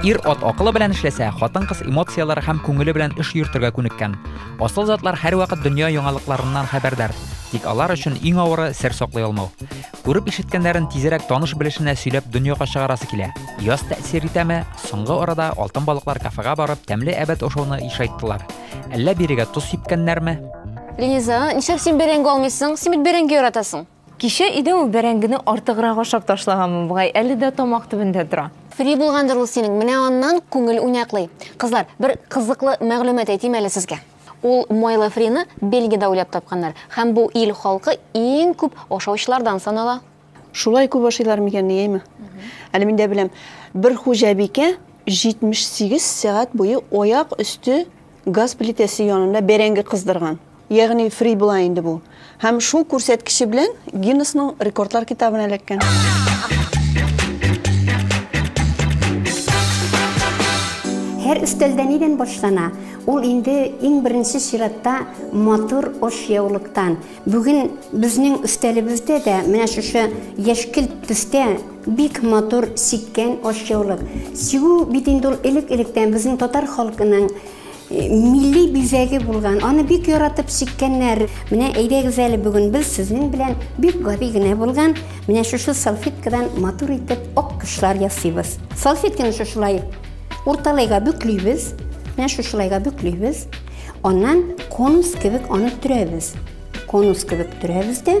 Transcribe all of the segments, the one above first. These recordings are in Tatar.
Ир-ат акылы белән эшләсә, хатын-кыз эмоцияләре һәм күңеле белән эш йөртергә күнеккән. Асыл затлар һәрвакыт дөнья яңалыкларыннан хәбәрдар, тик алар өчен иң авыры сер саклый алмау. Күреп ишеткәннәрен тизрәк таныш белешенә сөйләп дөньяга чыгарасы килә. Яз тәэсир итәме? Соңгы арада алтын балыклар кафега барып, тәмле әбәт ашауны ишайттылар. Әллә бирегә тоз сипкәннәрме? Линиза, нишләп син бәрәңге алмыйсың? Син бит бәрәңге яратасың. Кичә иде ул бәрәңгене артыграк ашап ташлаганмы бугай, әле дә тамак төбендә тора. Фри булгандыр ул синең, менә аннан күңел уйнаклый. Кызлар, бер кызыклы мәгълүмат әйтим әле сезгә. Ул майлы фрины Бельгиядә уйлап тапканнар һәм бу ил халкы иң күп ашаучылардан санала. Шулай күп ашыйлар микән ди, әйме? Әле мин дә беләм. Бер хуҗабикә 78 сәгать буе аяк өсте газ плитәсе янында бәрәңге кыздырган. Ягъни фри була инде бу. Һәм шул күрсәткече белән Гиннесның рекордлар китабына эләккән. Һәр өстәлдә нидән башлана? Ул инде иң беренче чиратта матур ашъяулыктан. Бүген безнең өстәлебездә дә менә шушы яшькелт төстә Бик матур сиккән ашъяулык. Сигү бит инде ул элек-электән безнең татар халкының милли бизәге булган. Аны бик яратып сиккәннәр. Менә әйдәгез әле бүген без сезнең белән бик гади генә булган менә шушы салфеткадан матур итеп ак кошлар ясыйбыз. Салфетканы шушылай урталайга бөклибез. Менә шушылайга бөклибез. Аннан конус кебек аны төрәбез. Конус кебек төрәбез дә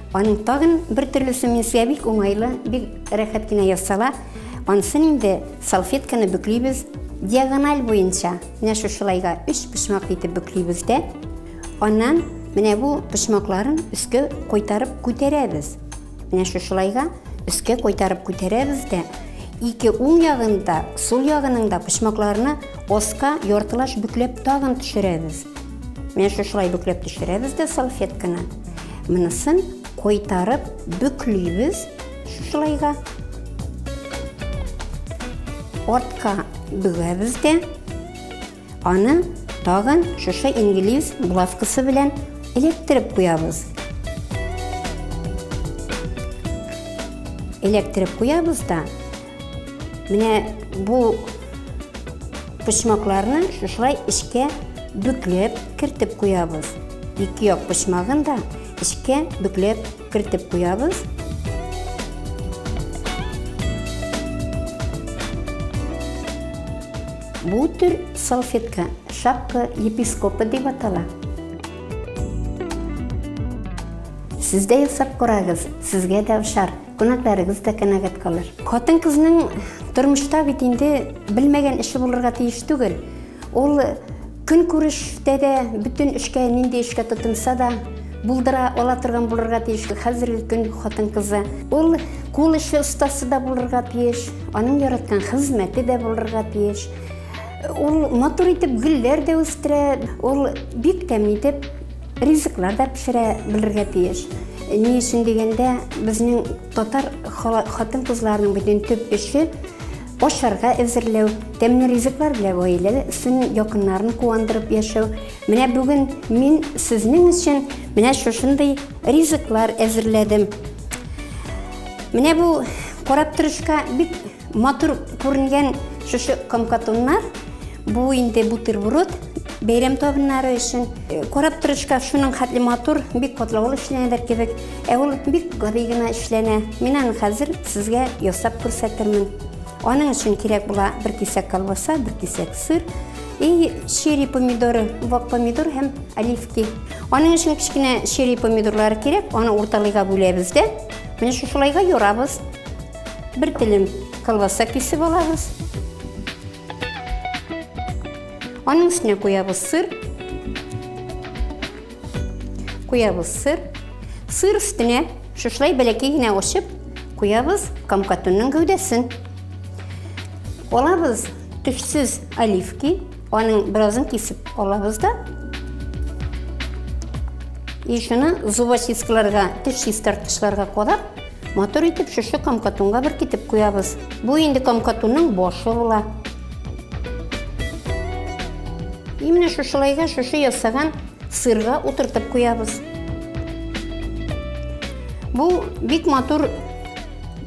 Аның тагын бер төрлесе менсия бик уңайлы, бик рәхәт кенә ясала. Ансын инде салфетканы бөклибез диагональ буенча. Менә шушылайга өч почмак итеп бөклибез дә. Аннан менә бу почмакларын өскә кайтарып күтәрәбез. Менә шушылайга өскә кайтарып күтәрәбез дә ике уң ягында, сул ягының да почмакларына оска яртылаш бөкләп тагын төшерәбез. Менә шушылай бөкләп төшерәбез дә салфетканы. Монысын кайтарып бөклибез шушылайга. Артка бөгәбез дә. Аны тагын шушы инглиз булавкасы белән электреп куябыз. Электреп куябыз да, Менә бу почмакларны шушылай эчкә бөкләп кертеп куябыз. Ике як почмагын да эчкә бөкләп кертеп куябыз. Бу төр салфетка шапка епископа дип атала. Сез дә ясап карагыз, сезгә дә ошар. Күнәкләрегез дә канәгать калыр. Хатын-кызның тормышта бит инде белмәгән эше булырга тиеш түгел. Ул көн күрештә дә бөтен эшкә, нинди эшкә тотынса да, булдыра ала торган булырга тиеш хәзерге көн хатын-кызы. Ул кул эше остасы да булырга тиеш, аның яраткан хезмәте дә булырга тиеш. Ул матур итеп гөлләр дә үстерә, ул бик тәмле итеп Ризыклар да пешерә белергә тиеш. Ни өчен дигәндә, безнең татар хатын-кызларының бөтен төп эше ашарга әзерләү, тәмле ризыклар белән гаиләле өчен якыннарын куандырып яшәү. Менә бүген мин сезнең өчен менә шушындый ризыклар әзерләдем. Менә бу карап торышка бик Матур күренгән шушы комкатуннар, бу инде бутерброд, бәйрәм табыннары өчен. Э, карап торышка шуның хәтле матур, бик катлаулы эшләнәдер кебек. Ә ул бик гади генә эшләнә. Мин аны хәзер сезгә ясап күрсәтермен. Аның өчен кирәк була бер кисәк колбаса, бер кисәк сыр, и черри помидоры, вак помидор һәм оливки. Аның өчен кечкенә черри помидорлары кирәк, аны урталыйга бүләбез дә. Менә шушылайга юрабыз. Бер телем колбаса кисеп алабыз. Аның өстенә куябыз сыр. Куябыз сыр. Сыр өстенә шушлай бәләкәй генә очып куябыз камкатунның гәүдәсен. Алабыз төшсез оливки. Аның беразын кисеп алабыз да. И шуны зубочисткаларга, теш чистарткычларга кадап, матур итеп шушы камкатунга бер китеп куябыз. Бу инде камкатунның башы була. Именно шушылайга шушы ясаган сырга утыртып куябыз. Бу бик матур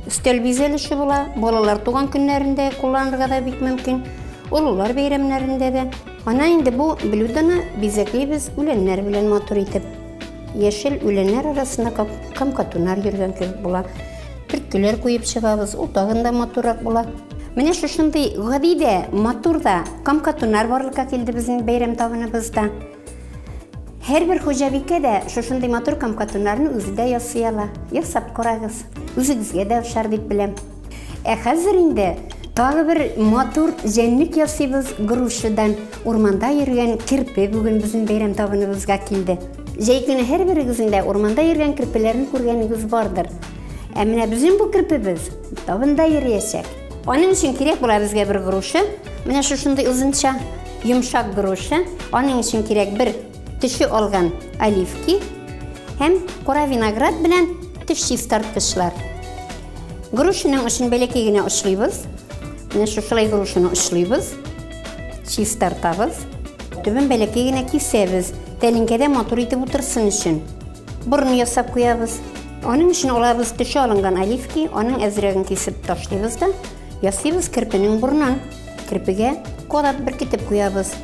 Өстәл бизәлеше була, балалар туган көннәрендә кулланырга да бик мөмкин, олылар бәйрәмнәрендә дә. Ана инде бу блюдоны бизәклибез үләннәр белән матур итеп. Яшел үләннәр арасында камкатунар йөргән кебек була. Төрткеләр куеп чыгабыз, ул тагын да матуррак була. Менә шушындый гади дә, матур да камкатунар барлыкка килде безнең бәйрәм табыныбызда. Һәрбер хуҗабикә дә шушындый матур камкатуннарны үзе дә ясый ала. Ясап карагыз. Үзегезгә дә ошар дип беләм. Ә хәзер инде тагы бер матур җәнлек ясыйбыз грушадан. Урманда йөргән керпе бүген безнең бәйрәм табыныбызга килде. Җәй көне һәрберегезнең дә урманда йөргән керпеләрен күргәнегез бардыр. Ә менә безнең бу керпебез табында йөриячәк. Аның өчен кирәк була безгә бер груша. Менә шушындый озынча Йомшак груша, аның өчен кирәк бер төше алган оливки һәм кара виноград белән төш чистарткычлар. Грушының өчен бәләкәй генә очлыйбыз. Менә шушылай грушаны очлыйбыз, чистартабыз. Төбен бәләкәй генә кисәбез, тәлинкәдә матур итеп утырсын өчен. Борын ясап куябыз. Аның өчен алабыз төше алынган оливки, аның әзрәген кисеп ташлыйбыз да, Ясыйбыз керпенең борнын. Керпегә кораб беркетеп куябыз.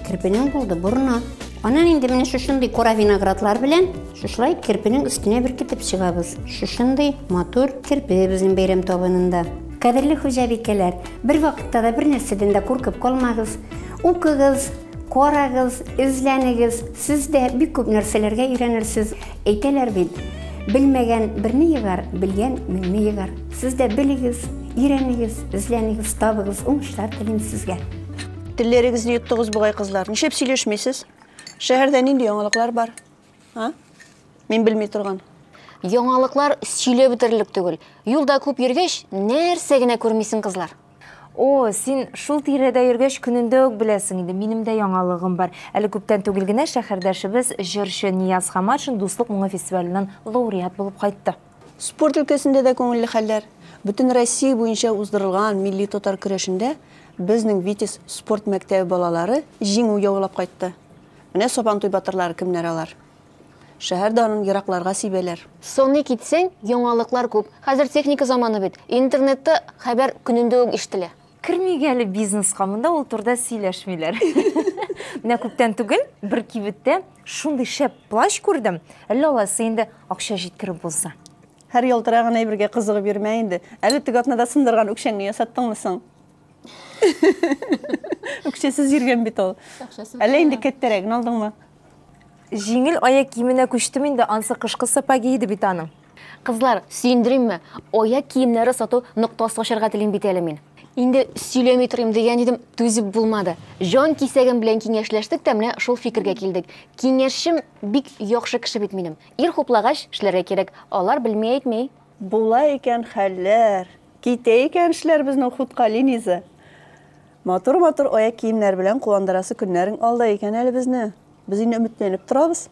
Керпенең булды борны. Анан инде менә шушындый кора виноградлар белән шушылай керпенең өстенә беркетеп чыгабыз. Шушындый матур керпе безнең бәйрәм табынында. Кадерле хуҗабикәләр, бер вакытта да бер нәрсәдән дә куркып калмагыз. Укыгыз, карагыз, эзләнегез. Сез дә бик күп нәрсәләргә өйрәнерсез. Әйтәләр бит, белмәгән берне егар, белгән меңне егар. Сез дә белегез, өйрәнегез, эзләнегез, табыгыз, уңышлар телим сезгә. Телләрегезне йоттыгыз бугай кызлар. Нишләп сөйләшмисез? Шәһәрдә нинди яңалыклар бар? А? Мин белми торган. Яңалыклар сөйләп бетерерлек түгел. Юлда күп йөргәч, нәрсә генә күрмисең, кызлар. О, син шул тирәдә йөргәч көнендә үк беләсең инде. Минем дә яңалыгым бар. Әле күптән түгел генә шәһәрдәшебез, җырчы Нияз Хаматшин Дуслык моңы фестиваленнән лауреат булып кайтты. Спорт өлкәсендә дә күңелле хәлләр. Бөтенроссия буенча уздырылган милли татар көрәшендә безнең Витязь спорт мәктәбе балалары җиңү яулап кайтты. Менә Сабантуй батырлары кемнәр алар. Шәһәр данын еракларга сибәләр. Саный китсәң, яңалыклар күп. Хәзер техника заманы бит. Интернетта хәбәр көнендә үк ишетелә. Кермик әле бизнеска, монда ул турыда сөйләшмиләр. Менә күптән түгел бер кибеттә шундый шәп плащ күрдем, әллә алайсы инде акча җиткереп булса. Һәр ялтыраган әйбергә кызыгып йөрмә инде. Әле теге атнада сындырган үкчәңне ясаттыңмы соң? Үкчәсез йөргән бит ул. Әллә инде кәттәрәген алдыңмы? Җиңел аяк киеменә күчтем инде, ансы кышкы сапоги иде бит аның. Кызлар, сөендеримме? Аяк киемнәре сату ноктасы ачарга телим бит әле мин. Инде сөйләми торыйм дигән идем, түзеп булмады. Җан кисәгем белән киңәшләштек тә менә шул фикергә килдек. Киңәшчем бик яхшы кеше бит минем. Ир хуплагач, эшләргә кирәк. Алар белми әйтми. Була икән хәлләр. Китә икән эшләр безнең хутка, Линиза. Матур-матур аяк киемнәр белән куандырасы көннәрең алда икән әле безне. Без инде өметләнеп торабыз.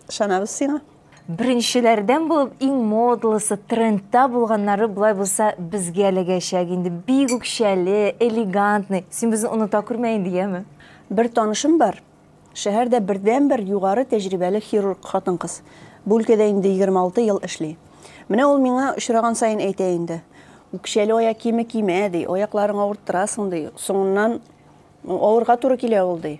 Ышанабыз сиңа. Беренчеләрдән булып иң модлысы, трендта булганнары болай булса безгә эләгәчәк инде. Бик үкчәле, элегантный. Син безне оныта күрмә инде, яме? Бер танышым бар. Шәһәрдә бердәнбер югары тәҗрибәле хирург хатын-кыз. Бу өлкәдә инде 26 ел эшли. Менә ул миңа очраган саен әйтә инде. Үкчәле аяк киеме кимә, ди, аякларың авырттырасың, ди. Соңыннан авырга туры килә ул, ди.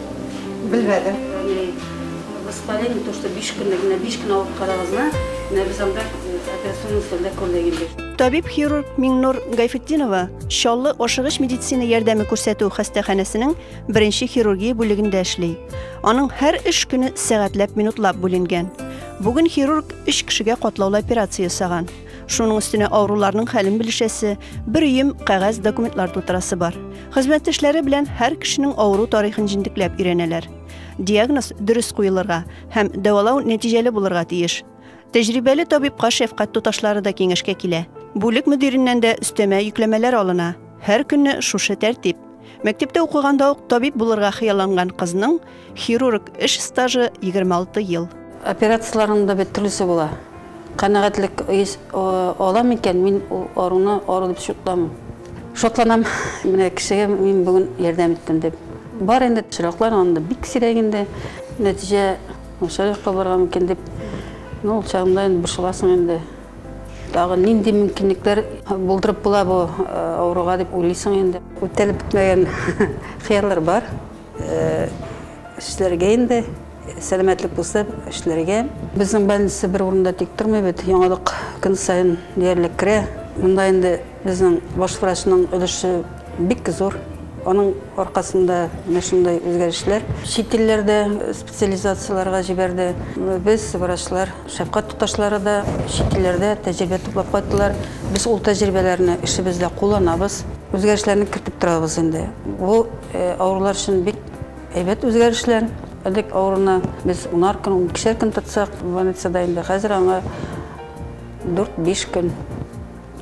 Белмәдем. Воспаление, не то, что биш көнле генә, биш көн алып карагызна, менә без анда операционный столда күрдек инде. Табиб-хирург Миңнур Гайфетдинова Чаллы ашыгыч медицина ярдәме күрсәтү хастаханәсенең беренче хирургия бүлегендә эшли. Аның һәр эш көне сәгатьләп минутлап бүленгән. Бүген хирург 3 кешегә катлаулы операция ясаган. Шуның өстенә авыруларның хәлен белешәсе, бер өем кәгазь документлар тутырасы бар. Хезмәттәшләре белән һәр кешенең авыру тарихын җентекләп өйрәнәләр. Диагноз дөрес куелырга һәм дәвалау нәтиҗәле булырга тиеш. Тәҗрибәле табибка шәфкать туташлары да киңәшкә килә. Бүлек мөдиреннән дә өстәмә йөкләмәләр алына. Һәр көнне шушы тәртип. Мәктәптә укыганда ук табиб булырга хыялланган кызның хирург эш стажы 26 ел. Операцияләрнең дә бит төрлесе була. Канәгатьлек ала микән? Мин ул аруны ару дип шутламыйм. Шатланам, менә кешегә мин бүген ярдәм иттем дип. Бар инде чираклар, анда бик сирәк инде. Нәтиҗә начар якка барган микән дип, ну, ул чагында инде борчыласың инде. Тагын нинди мөмкинлекләр булдырып була бу авыруга дип уйлыйсың инде. Үтәлеп бетмәгән хыяллар бар. Эшләргә инде, сәламәтлек булса, эшләргә. Безнең больница бер урында тик тормый бит, яңалык көн саен диярлек керә. Монда инде Безнең баш врачның өлеше бик зур. Аның аркасында менә шундый үзгәрешләр. Чит илләрдә специализацияләргә җибәрде. Без, врачлар, шәфкать туташлары да чит илләрдә тәҗрибә туплап кайттылар. Без ул тәҗрибәләрне эшебездә кулланабыз. Үзгәрешләрне кертеп торабыз инде. Бу авырулар өчен бик әйбәт үзгәрешләр. Элек авыруны без унар көн, уникешәр көн тотсак, больницада инде хәзер аңа дүрт-биш көн.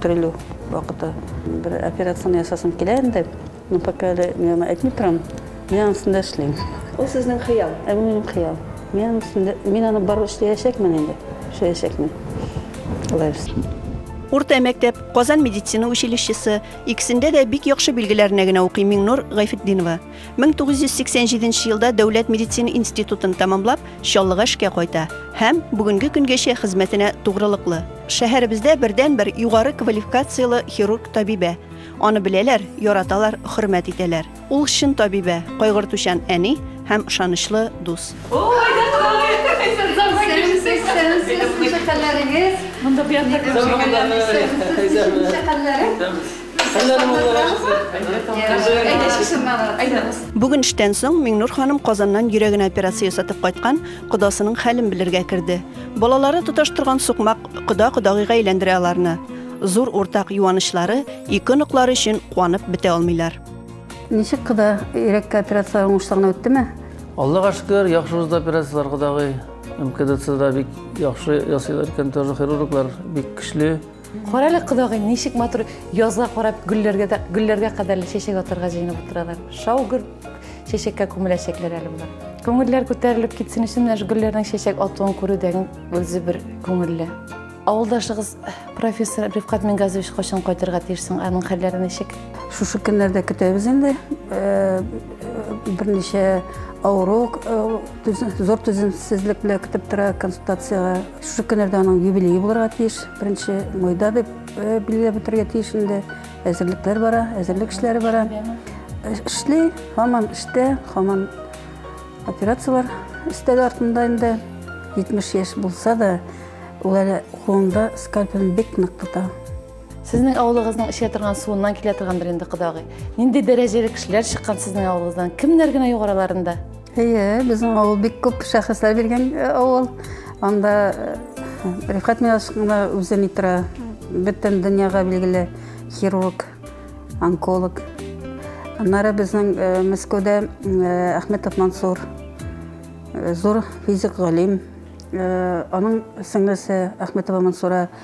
Терелү вакыты. Бер операцияне ясасым килә инде. Ну, пока әле мин аны әйтми торам. Мин аның өстендә эшлим. Ул сезнең хыял? Ә бу минем хыял. Мин аның өстендә, мин аны барып эшләячәкмен инде. Эшләячәкмен. Алла бирса. Урта мәктәп, Казан медицина училищесы, икесендә дә бик яхшы билгеләренә генә укый Миңнур Гайфетдинова. 1987 елда Дәүләт медицина институтын тәмамлап, Чаллыга эшкә кайта һәм бүгенге көнгәчә хезмәтенә тугрылыклы. Шәһәребездә бердән-бер югары квалификацияле хирург табибә. Аны беләләр, яраталар, хөрмәт итәләр. Ул чын табибә, кайгыртучан әни һәм ышанычлы дус. Шәкәлләрегез. Монда бу якта. Шәкәлләре. Бүген эштән соң Миңнур ханым Казаннан йөрәгенә операция ясатып кайткан кодасының хәлен белергә керде. Балалары тоташ торган сукмак кода кодагыйга әйләндерә аларны. Зур уртак юанычлары ике оныклары өчен куанып бетә алмыйлар. Ничек кода йөрәккә операцияләр уңышлы гына үттеме? Аллага шөкер, яхшы узды операцияләр кодагый. МКДЦда бик яхшы ясыйлар икән, тоже хирурглар бик көчле. Карале кодагый, ничек матур язга карап гөлләргә дә гөлләргә кадәрле чәчәк атарга җыенып утыралар. Шаугыр чәчәккә күмеләчәкләр әле болар. Күңелләр күтәрелеп китсен өчен менә гөлләрнең чәчәк атуын күрүдән үзе бер күңелле. Авылдашыгыз профессор Рифкат Мингазович кайчан кайтырга тиешсең? Аның хәлләре ничек? Шушы көннәрдә көтәбез инде. Э, берничә авыру э, зур түземсезлек белән көтеп тора консультациягә Шушы көннәрдә аның юбилее булырга тиеш. Беренче майда дип билгеләп үтәргә тиеш инде. Әзерлекләр бара, әзерлек эшләре бара. Эшли, һаман эштә, һаман операцияләр өстәге артында инде. 70 яшь булса да, ул әле кулында скальпелен бик нык тота. Сезнең авылыгызның эчә торган суыннан килә торгандыр инде кодагый. Нинди дәрәҗәле кешеләр чыккан сезнең авылыгыздан? Кемнәр генә югараларында? Әйе, безнең авыл бик күп шәхесләр биргән э, авыл. Анда э, Рифкат Милашкина үзе ни тора, бөтен дөньяга билгеле хирург, онколог. Аннары безнең э, Мәскәүдә Әхметов Мансур, зур физик галим. Аның сеңлесе Әхметова Мансура –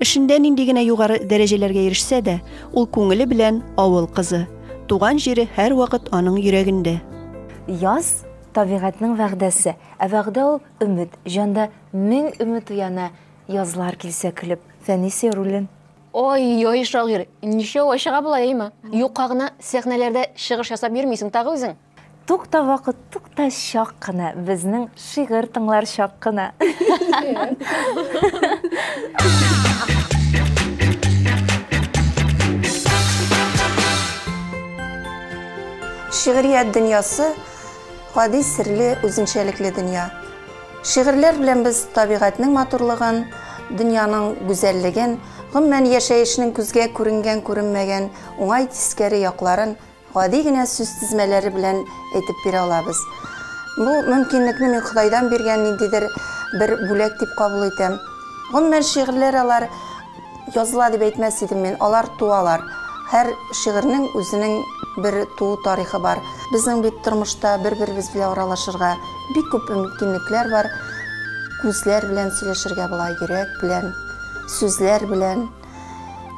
Эшендә нинди генә югары дәрәҗәләргә ирешсә дә, ул күңеле белән авыл кызы. Туган җире һәрвакыт аның йөрәгендә. Яз, табигатьнең вәгъдәсе. Ә вәгъдә ул, өмет. Җанда мең өмет уяна, Язлар килсә көлеп, Фәнисия рулен. Ай-йай, шагыйрь, ничәү ай чыга болай, әйеме? Юкка гына сәхнәләрдә чыгыш ясап йөрмисең тагы үзең. Тукта вакыт, тукта чак кына, безнең шигырь тыңлар чак кына. Шигърият дөньясы гади серле үзенчәлекле дөнья. Шигырьләр белән без табигатьнең матурлыгын, дөньяның гүзәллеген, гомумән яшәешнең күзгә күренгән-күренмәгән уңай тискәре якларын Гади генә сүз тезмәләре белән әйтеп бирә алабыз. Бу мөмкинлекне мин Ходайдан биргән ниндидер бер бүләк дип кабул итәм. Гомумән, шигырьләр алар языла дип әйтмәс идем мин, алар туалар. Һәр шигырьнең үзенең бер туу тарихы бар. Безнең бит тормышта бер-беребез белән аралашырга бик күп мөмкинлекләр бар. Күзләр белән сөйләшергә була, йөрәк белән, сүзләр белән.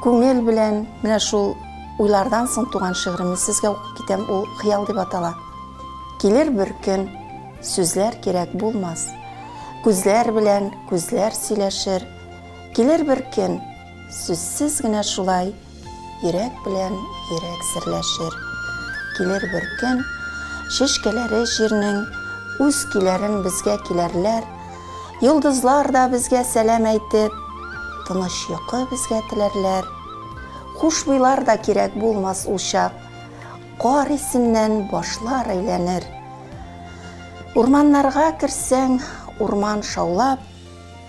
Күңел белән менә шул уйлардан соң туган шигыремне сезгә укып китәм, ул Хыял дип атала. Килер бер көн, сүзләр кирәк булмас. Күзләр белән күзләр сөйләшер. Килер бер көн, сүзсез генә шулай, йөрәк белән йөрәк серләшер. Килер бер көн, шешкәләре җирнең үз көйләрен безгә киләрләр, Йолдызлар да безгә сәлам әйтеп, Тыныч йокы безгә теләрләр. Хушбуйлар да кирәк булмас ул чак, Кар исеннән башлар әйләнер. Урманнарга керсәң, урман шаулап,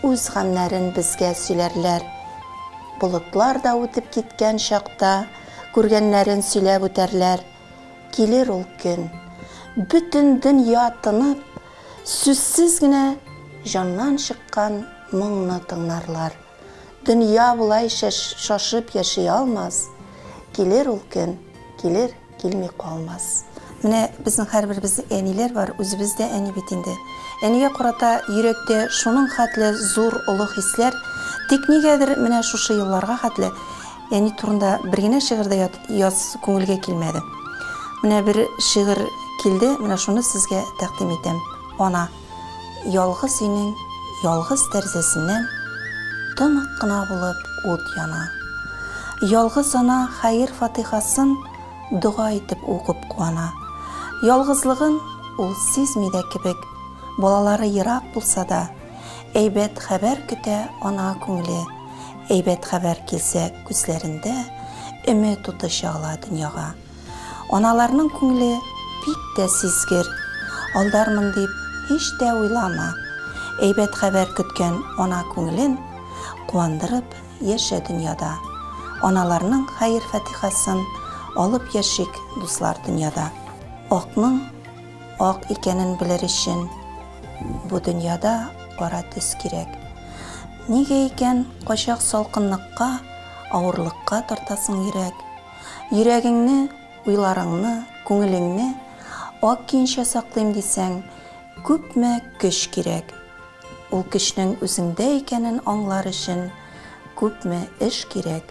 Үз гамьнәрен безгә сөйләрләр. Болытлар да үтеп киткән чакта, Күргәннәрен сөйләп үтәрләр. Килер ул көн. Бөтен дөнья тынып, Сүзсез генә җаннан чыккан моңны тыңларлар. Дөнья болайча шашып яши алмас, килер ул көн, килер, килми калмас. Менә безнең һәрберебезнең әниләр бар, үзебез дә әни бит инде. Әнигә карата йөрәктә шуның хәтле зур, олы хисләр, тик нигәдер менә шушы елларга хәтле Әни турында бер генә шигырь дә язасы күңелгә килмәде. Менә бер шигырь килде, менә шуны сезгә тәкъдим итәм. Ана, ялгыз өйнең ялгыз тәрзәсеннән тонык кына булып ут яна. Ялгыз ана хәер-фатыйхасын дога итеп укып куана. Ялгызлыгын ул сизми дә кебек, балалары ерак булса да, Әйбәт хәбәр көтә ана күңеле, Әйбәт хәбәр килсә күзләрендә Өмет уты чагыла дөньяга. Аналарның күңеле бик тә сизгер, Алдармын дип һич тә уйлама. Әйбәт хәбәр көткән ана күңелен Куандырып яшә дөньяда. Аналарның хәер-фатихасын Алып яшик, дуслар, дөньяда. Акның Ак икәнен белер өчен бу дөньяда кара төс кирәк. Нигә икән кайчак салкынлыкка, авырлыкка тартасың йөрәк? Йөрәгеңне, уйларыңны, күңелеңне ак киенчә саклыйм дисәң, күпме көч кирәк. Ул көчнең үзеңдә икәнен аңлар өчен күпме эш кирәк.